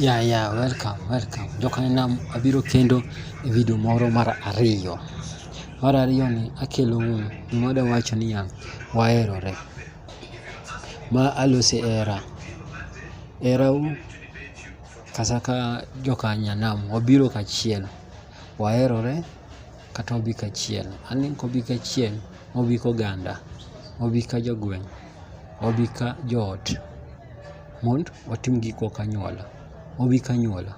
Ya yeah, ya yeah, welcome welcome. Joka nam abiro kendo e video moro mar ariyo. Mar ariyo ni akelo un moda wacho ni ya waerore. Ma alose era. Era u kasaka joka nyanam wabiro kachiel. Waerore kata obi kachiel. Ani kobi kachiel obi koganda. Obi ka jogweng. Obi ka joot. Mond watim giko kanyuola. Obi kanyuola.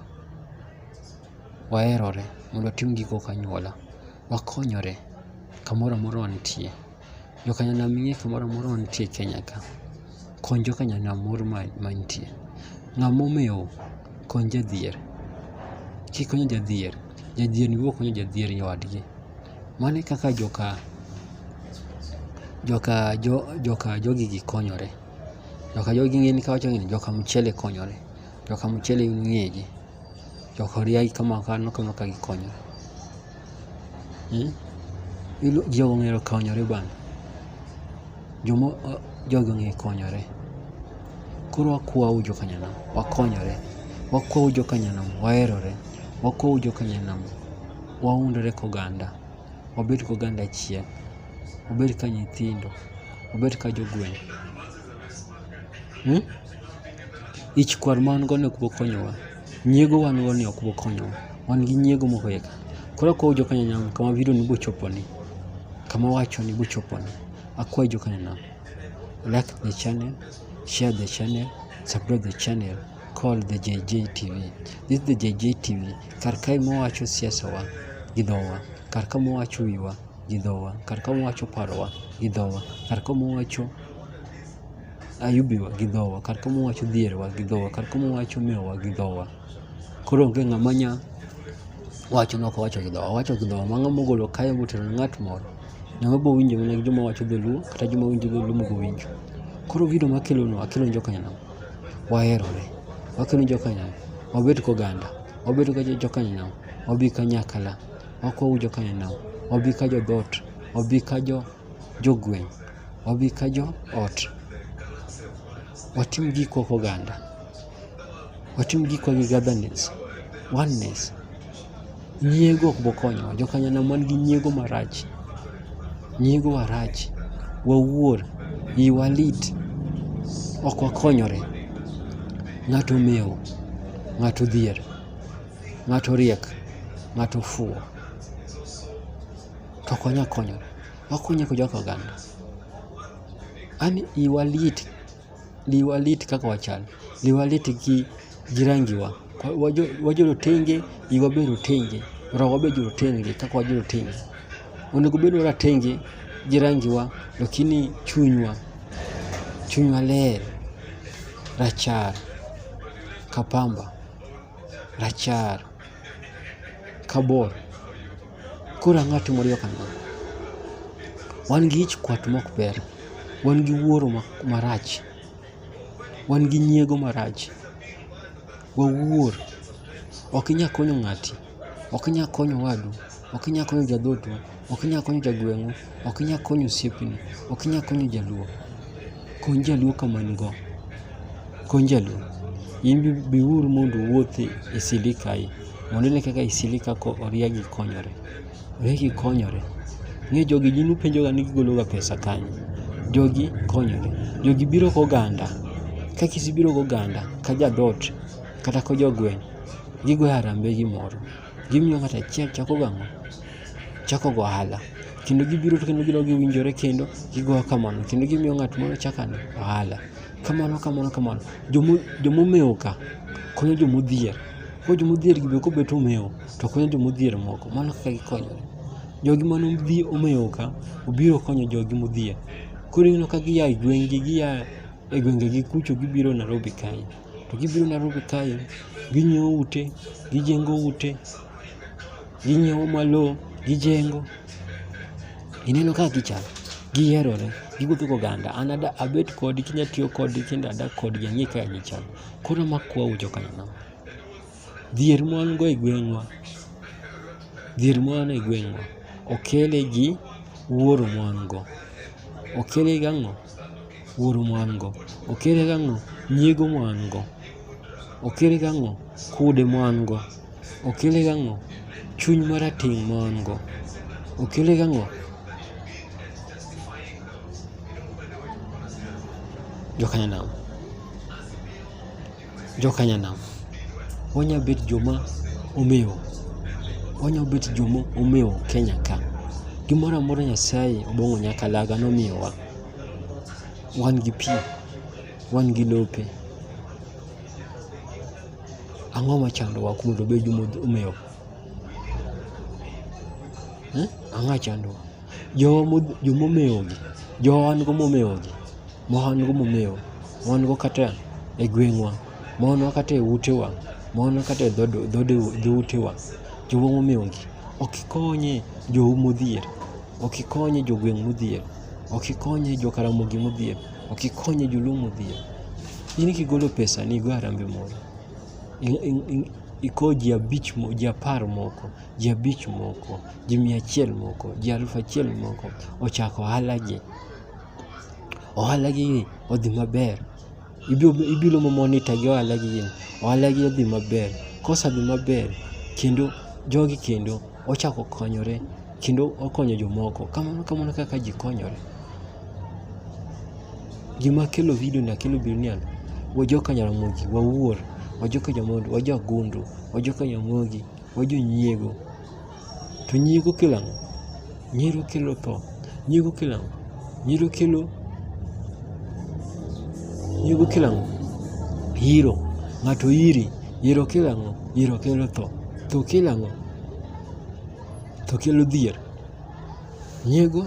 Waherore mondo watim giko kanyuola. Wakonyore kamoro amora wantie. Jokanyana ming'e kamoro amora wantie Kenya ka. Kony jokanyana moro mantie. Ng'ama omewo kony jadhier. Kikonyo jadhier, jadhier ni biro konyo jadhier nyawadgi. Mano e kaka joka joka jo joka jogegi konyore. Joka jogi ng'eni kawacho ng'eni joka mchele konyore. Joka mchele ng'eji. Joka riagi kama kano kama ka gikonyore. Hmm? Ilo jogo ng'ero konyore bana. Jomo jogo ng'e konyore. Koro akwawu joka nyanam wakonyore. Wakwawu joka nyanam waherore. Wakwawu joka nyanam waundore koganda. wabed ka oganda achiel, wabed ka nyithindo, wabed ka jogweng'. Hmm? Ich kwar ma wan go ni ok bokonyowa, nyiego wan go ni ok bokonyowa, wan gi nyiego mohoyeka. Koro akwayo jokanyanam kama video ni bochoponi, kama wachoni bochoponi, akwayo jokanyanam like the channel, share the channel, subscribe the channel called the JJ TV. This is the JJ TV. Kar kae mwawacho siasawa gi dhowa, kar ka mwawacho wiwa gi dhowa, kar ka mwawacho parowa gi dhowa, kar ka mwawacho ayubiwa gi dhowa, kar ka mwawacho dhierwa gi dhowa, kar ka mwawacho mewowa gi dhowa. Koro onge ng'ama nya wacho nok owacho gi dhowa, owacho gi dhowa. Ma ng'ama ogolo kae motero ne ng'at moro, ng'ama bo winjo mana gi joma wacho dholuo kata joma winjo dholuo mobo winjo. Koro gino makelo no akelo ni joka nyanam. waherore, wakendo jokanyanam, wabed koganda, wabed ka jokanyanam, wabi kanyakala, wakow jokanyanam, wabi ka jodhoot, wabi ka jogweng', wabi ka joot. Watim gikwa koganda, watim gikwa gi gathernes, oneness. Nyiego ok bokonyowa, jokanyana man gi nyiego marach. Nyiego wa rach, wawuor, iwa lit, ok wakonyore. Ng'ato mewo, ng'ato dhier, ng'ato riek, ng'ato fuwo. To ok wanya konyore, wakonye kaka oganda. An iwa lit liwalit kaka wachal, liwalit gi, gi rangiwa. Wajo rotenge, iwa be rotenge, roho be jorotenge kaka wajo rotenge. Onego bed waratenge gi rangiwa lakini chunywa, chunywa ler, rachar ka pamba, rachar ka bor. Koro ang'o atimore yo kama? Wan gi ich kwat mok ber, wan gi wuoro marach, wan gi nyiego marach, wawuor, ok inya konyo ng'ati, ok inya konyo owadu, ok inya konyo jadhotu, ok inya konyo jagweng'u. Ok inyal konyo osiepni, ok inyal konyo jaluo. Kony jaluo kama in go. Kony jaluo. In biuru mondo uwuothi e sili kae mondo ine kaka e sili ka oriagi konyore. Oriagi konyore. Ng'e jogi gin upenjoga ni gigologa pesa kanye. Jogi konyore. Jogi biro goganda. Ka kisibiro goganda ka jadot kata ka jogweng' gigoyo harambee gimoro. Gimiyo ng'ato achiel chako gang'o? Chako go ohala. Kendo gibiro to kendo gidok giwinjore kendo gigo kamano. Kendo gimiyo ng'at moro chako ano ohala. Kamano kamano kamano. Jomo jomomewo ka konyo jomodhier. Koro jomodhier gi be kobet omewo to konyo jomodhier moko. Mano kaka gikonyore. Jogi mane odhi omewo ka obiro konyo jogi modhier. Koro ineno ka gia e gweng'gi gia e gwengegi kucho gibiro Nairobi kae. to gibiro Nairobi kae ginyiewo ute, gijengo ute, ginyiewo ma lowo, gijengo. Ineno kaka gichal, giherore, giwuotho goganda. An ada abet kodi kinya tiyo kodi kendo adak kodgi ang'e kaka gichal. Koro makwauru joka Nyanam. Dhier ma wan go e gweng'wa, dhier ma wan e gweng'wa okele gi wuoro ma wan go. Okele gi ang'o? Wuoro ma wan go. Okele gi ang'o? Nyiego ma wan go. Okele gi ang'o? Kude ma wan go. Okele gi ang'o? Chuny marateng' ma wan go. Okele gi ang'o? Jokanyanam. jokanyanam, wanya bet joma omewo, wanya bet joma omewo Kenya ka. Gimoro amora Nyasaye obong'o nyakalaga nomiyowa. Wan gi pi, wan gi lope, ang'o machandowa kuom mondo wabed joma omewo? Ang'a chandowa. Jowa modh- joma omewogi, jowa wan go momewogi, ma wan go momewo, ma wan go kata e gweng'wa, ma wan go kata e utewa, ma wan go kata e dhood- dhood- dhoutewa, jowa momewogi, ok ikonye jou modhier, ok ikonye jogweng' modhier, ok ikonye jo Karamogi modhier, ok ikonye joluo modhier. In kigolo pesani igo harambee moro, i- i- i- iko ji abich mo- ji apar moko ji abich moko, ji mia achiel moko, ji alufu achiel moko ochako ohalagi. Ohalagi odhi maber, ibiro ma monitor gi ohalagi, ohalagi odhi maber. Kosedhi maber kendo jogi kendo ochako konyore kendo okonyo jomoko. Kamano kamano kaka ji konyore. Gima kelo video ni akelo video ni an, wajoka Jaramogi, wawuor, wajoka Jamond, wajo Agundu, wajoka Nyamogi. wa jonyiego. To nyiego kelo ang'o? Nyiego kelo tho. Nyiego kelo ang'o? Nyiego kelo nyiego kelo ang'o? Iro. Ng'ato iri. Iro kelo ang'o? Iro kelo tho. Tho kelo ang'o? Tho kelo dhier. Nyiego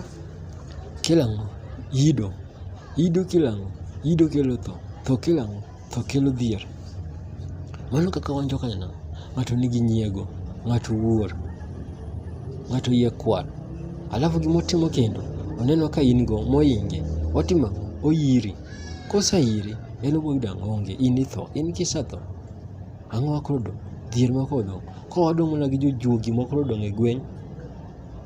kelo ang'o? Ido. Ido kelo ang'o? Ido kelo tho. Tho kelo ang'o? Tho kelo dhier. Mano kaka wan jokanyna, ng'ato nigi nyiego, ng'ato wuor, ng'ato yie kwar. Alafu gimotimo kendo, oneno ka in go moinge, otimo ang'o? Oyiri. Koseiri, en oboyudo ang'o? Onge, in itho. In kisetho, ang'o ma koro odong'? Dhier ma koro odong'. Koro wadong' mana gi jojuogi ma koro odong' e gweng'.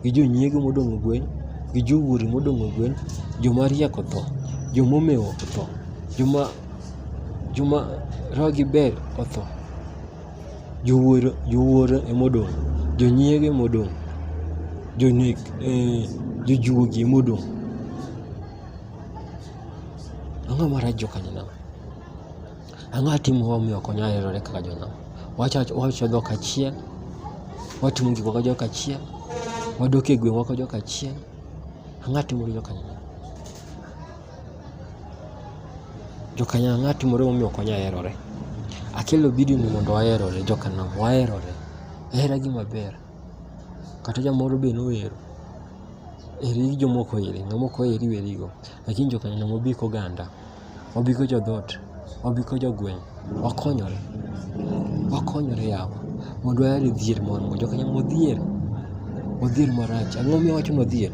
gi jonyiego modong' e gweng', gi jowuori modong' e gweng', joma riek otho, joma omewo otho, joma joma rogi ber otho. Jowuoro jowuoro ema odong', jonyiego ema odong', jonek eh, jojuogi ema odong'. Ang'o marach jokanyna? Ang'o atimo momiyo ok onyal herore kaka jonam? Wawacho dhok achiel, watimo gik moko jok achiel, wadok e gweng' wako jok achiel. Ang'o atimo gi jokanyakla? Jokanyakla ang'o atimore momiyo ok wanyal herore? Akelo video ni mondo waherore jokanam, waherore. Hera gima ber. Kata jamoro be nohero. Heri jomoko oheri, ng'ama ok oheri werigo. Lakini jokanyakla mobi koganda. wabigo jodhoot, wabigo jogweng', wakonyore, wakonyore yawa. Mondo wayal e dhier moro amora. Jokanyna modhier, odhier marach. Ang'o momiyo awacho ni odhier?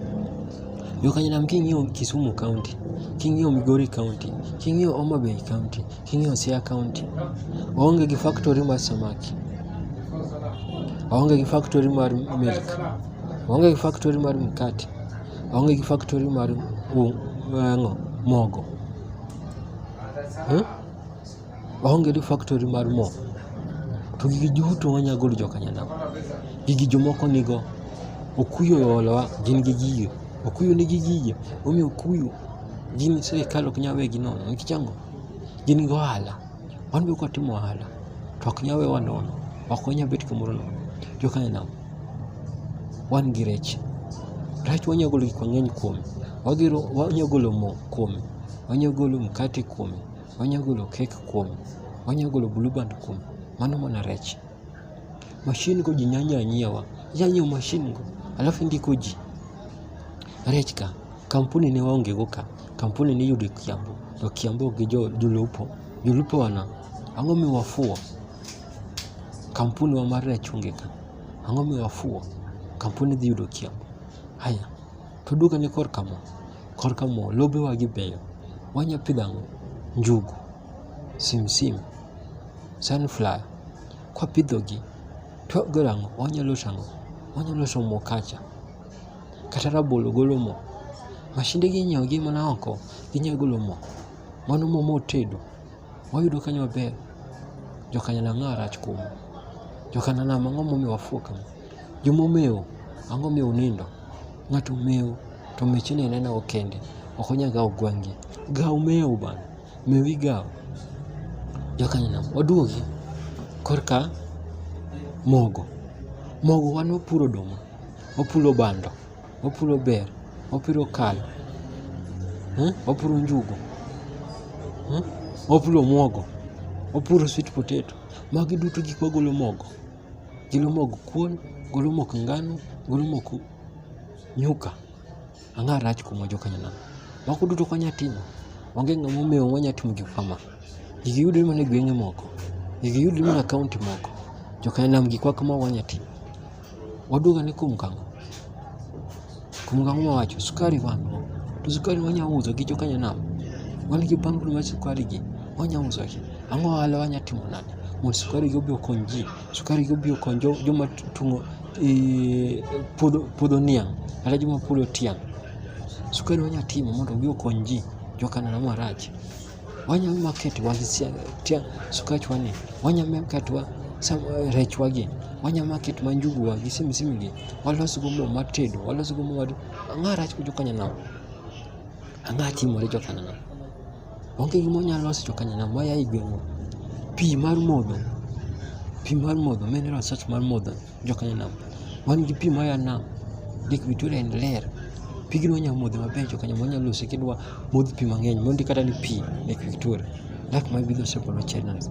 Jokanyna king'iyo Kisumu kaonti, king'iyo Migori kaonti, king'iyo Homa Bay kaonti, king'iyo Siaya kaonti, waonge gi faktori mar samaki, waonge gi faktori mar milk, waonge gi faktori mar mkate. Aonge gi factory mar ang'o mogo. Aonge gi factory mar mo. To gigi duto wanya golo joka nyanam. Gigi jomoko nigo. Okuyu oolowa gin gi gigi. Okuyu nigi gigi. Omiyo okuyu gin sirkal ok nyal wegi nono. Nikech ang'o? Gin gi ohala. Wan be kwatimo ohala to ok nyal wewa nono. Ok wanya bet kamoro nono. Joka nyanam. wan gi rech. Rech wanyalo golo gik mang'eny kuome. Wanyalo golo mo kuome, wanyalo golo mkate kuome, wanyalo golo kek kuome, wanyalo golo blue band kuome. Mano mana rech. Mashin go ji nyanya nyiewa. Inya nyiewo mashin go alafu indiko ji. Rech ka, kampuni ne waonge go ka. Kampuni ne iyudo e Kiambu. To Kiambu gi jolupo, jolupo wana, ang'o miwafuwo? Kampuni wa mar rachungi ka. Ang'o mi wafuwo? Kampuni dhi yudo kiawa. Haya, to duoka ni korka mo. Korka mo, lobewa gi beyo. Wanya pidho ang'o? Njugu, simsim, sunflower. Kwa pidho gi, to wagolo ang'o? Wanya loso ang'o? Wanya loso mo kacha. Kata rabolo golo mo. Mashinde gi inyiewo gi mana oko, ginya golo mo. Mano mo motedo. Wayudo kanyo maber jokanyala ang'o arach kuom jokanana ang'o momiyo wafuo kama jomomewo ang'o miyo unindo ng'ato omewo to mechene enena okende ok onyal gawo gwang'gi gaw mewo bana mewo igawo jokanyana waduogi korka mogo mogo wan wapuro oduma wapulo bando opuro ber opuro kal eh? opuro njugu eh? opuro mwogo opuro sweet potato magi duto gik magolo mogo golo mog kuon golo mok ngano golo mok nyuka ang'a rach kuomwa jokanyanam moko duto kwanya timo onge ng'ama omewo wanya timo gik kama gigi yudore mana e gwenge moko gigi yudore mana e kaonti moko jokanyanam gikwa kama wanya timo Waduga ni kum kang'o? Kum kang'o ma wacho? Sukari wan go. To sukari wanya uso gi jokanya nam. Wan gi bundle mar sukari gi. Wanya uso gi. Ang'o ohala wanya timo nade? Mondo sukari gi obi okony ji. Sukari gi obi okony jo, joma tung'o e, puodho, puodho niang'. Kata joma puodho tiang'. Sukari wanya timo mondo obi okony ji. Jokana na marach. wanya market wang tia sukach wani wanya market wa eh, rech wagi wanya market ma njugu wagi simi simi gi walos go mo matedo walos go mo wadu anga rach kujo kanya na anga timo rejo kanya na onge gimo nya los jo kanya na waya igwengo pi mar modho pi mar modho mineral salt mar modho Jokanyanam, wan gi pi maya nam, Lake Victoria en ler. Pigno wanyalo modho maber jokanyanam, wanyalo lose kendo wamodh pi mang'eny, mondi kata ni pi Lake Victoria. Lak ma bidho sekono chenas.